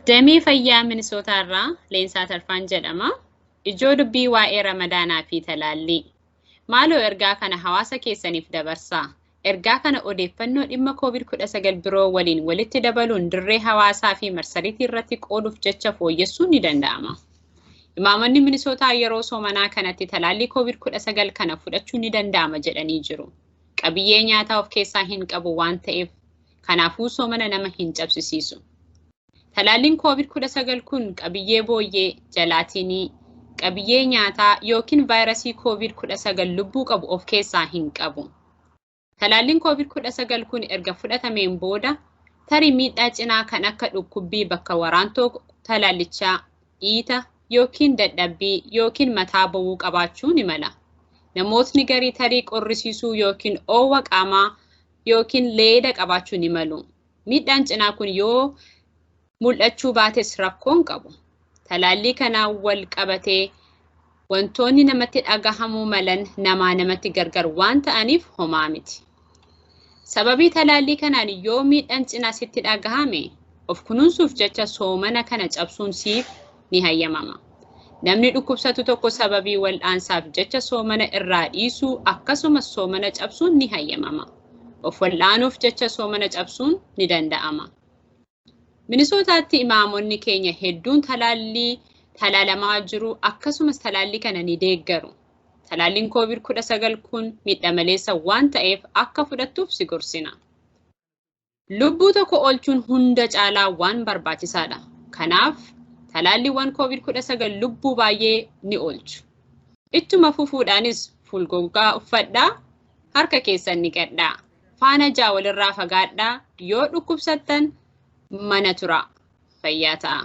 Damee fayyaa Minisootaa irraa Leensaa Tarfaan jedhama. Ijoo dubbii waa'ee Ramadaanaa fi talaallii. Maaloo ergaa kana hawaasa keessaniif dabarsaa. Ergaa kana odeeffannoo dhimma Covid 19 biroo waliin walitti dabaluun dirree hawaasaa fi marsariitii irratti qooduuf jecha fooyyessuun ni danda'ama. Imaamonni Minisootaa yeroo soomanaa kanatti talaallii Covid 19 kana fudhachuun ni danda'ama jedhanii jiru. Qabiyyee nyaataa of keessaa hin qabu waan ta'eef Kanaafuu soomana nama hin cabsisiisu. Talaalliin koovid 19 kun qabiyyee booyyee, jalaatiinii, qabiyyee nyaataa yookiin vaayirasii koovid 19 lubbuu qabu of keessaa hin qabu. Talaalliin koovid 19 kun erga fudhatameen booda tarii miidhaa cinaa kan akka dhukkubbii bakka waraantoo talaallichaa, dhiita yookiin dadhabbii yookiin mataa bowwuu qabaachuu ni mala. Namootni garii tarii qorrisiisuu yookiin oowwa qaamaa yookiin leeda qabaachuu ni malu. Miidhaan cinaa kun yoo mul'achuu baates rakkoon qabu. Talaallii kanaan wal qabatee wantoonni namatti dhagahamuu malan namaa namatti gargar waan ta'aniif homaa miti. Sababii talaallii kanaan yoo miidhaan cinaa sitti dhagahame of kunuunsuuf jecha soomana kana cabsuun siif ni hayyamama. Namni dhukkubsatu tokko sababii wal'aansaaf jecha soomana irraa dhiisuu akkasumas soomana cabsuun ni hayyamama. Of wal'aanuuf jecha soomana cabsuun ni danda'ama. Minisootaatti imaamonni keenya hedduun talaallii talaalamaa jiru akkasumas talaallii kana ni deeggaru. Talaalliin COVID-19 kun miidha maleessa waan ta'eef akka fudhattuuf si gorsina. Lubbuu tokko olchuun hunda caalaa waan barbaachisaadha. Kanaaf, talaalliiwwan COVID-19 lubbuu baay'ee ni oolchu. Ittuma fufuudhaanis fuulgogaa uffadhaa, harka keessan niqadhaa, faana ja'a walirraa fagaadhaa, yoo dhukkubsattan mana turaa. Fayyaa ta'aa.